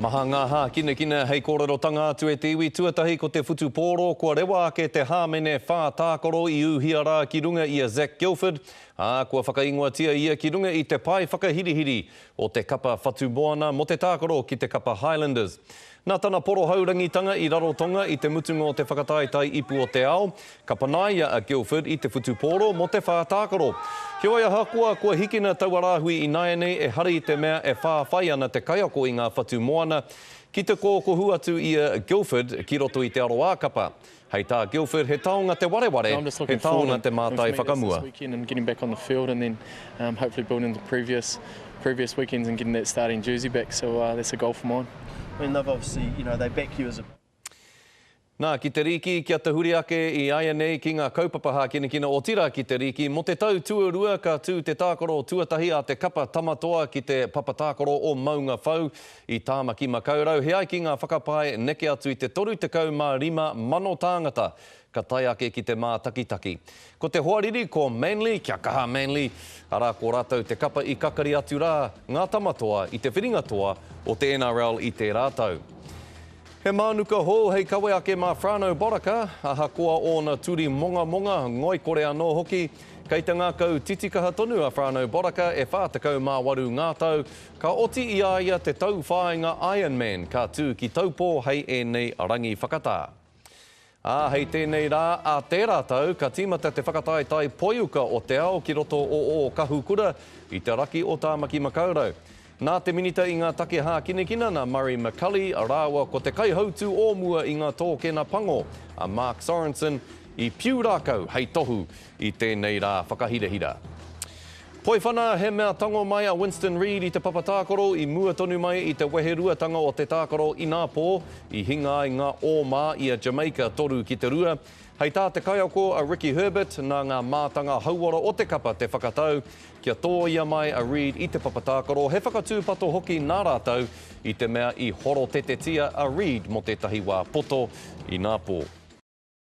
Maha ngā hākinakina hei kōrerotanga atu e te iwi tuatahi ko te whutupōro kua rewa ake te hāmene whā tākaro i ūhia rā ki runga i a Zac Gilford, ā, kua whakaingoatia ia ki runga i te pae whakahirihiri o te kapa whatumoana mō te tākaro ki te kapa Highlanders. Nā tana porohaurangitanga i Rarotonga i te mutunga o te whakataetae ipu o te ao, Ka panaia a Guildford i te whutupōro mō te whā tākaro. Heoi ahakoa kua hikina taua rāhui ināianei ehara i te mea e whāwhai ana te kaiako i ngā whatu moana ki te kōkohu atu i a Guildford ki roto i te aroākapa. Hei tā Guildford he taonga te wareware, he taonga te mātai whakamua. Nā, ki te rīki, kia tahuri ake i āianei ki ngā kaupapa hākinakina, otirā ki te rīki. Mō te tau tuarua ka tū te tākaro tuatahi a te kapa Tama Toa ki te papa tākaro o Maunga Whau i Tāmaki-makau-rau. He ai ki ngā whakapae neke atu i te 35,000 tāngata Ka tae ake ki te mātakitaki. Ko te hoariri ko Manly, kia kaha Manly, arā ko rātou te kapa i kakari atu rā ngā tama toa i te whiringa toa o te NRL i tērā tau. He mānuka hou hei kawe ake mā Frano Baraka, ahakoa ōna turi mongamonga, ngoikore anō hoki. Kei te ngākau titikaha tonu a Frano Baraka e 48 ngā tau, ka oti i a ia te tauwhāinga Ironman ka tū ki Taupō hei ēnei rangi whakatā. Ā, hei tēnei rā, ā tērā tau, ka tīmata te whakataetae poiuka o te ao ki roto o Ōkahukura, i te raki o Tāmaki Makaurau. Nā te Minita i ngā Take Hākinakina, nā Murray McCully, rāua ko te kaihautū o mua i ngā tōkena pango, a Mark Sorensen, i Piūrākau hei tohu i tēnei rā whakahirahira. Poiwhana, he mea tango mai a Winston Reid i te papa tākaro i mua tonu mai i te weheruatanga o te tākaro inā pō, i hinga ai ngā ō mā i a Jamaica 3-2. Hei tā te kaiako a Ricky Herbert, nā ngā mātanga hauora o te kapa te whakatau kia tōia mai a Reid i te papa tākaro, he whakatūpato hoki nā rātou i te mea i horotetetia a Reid mō tētahi wā poto inā pō.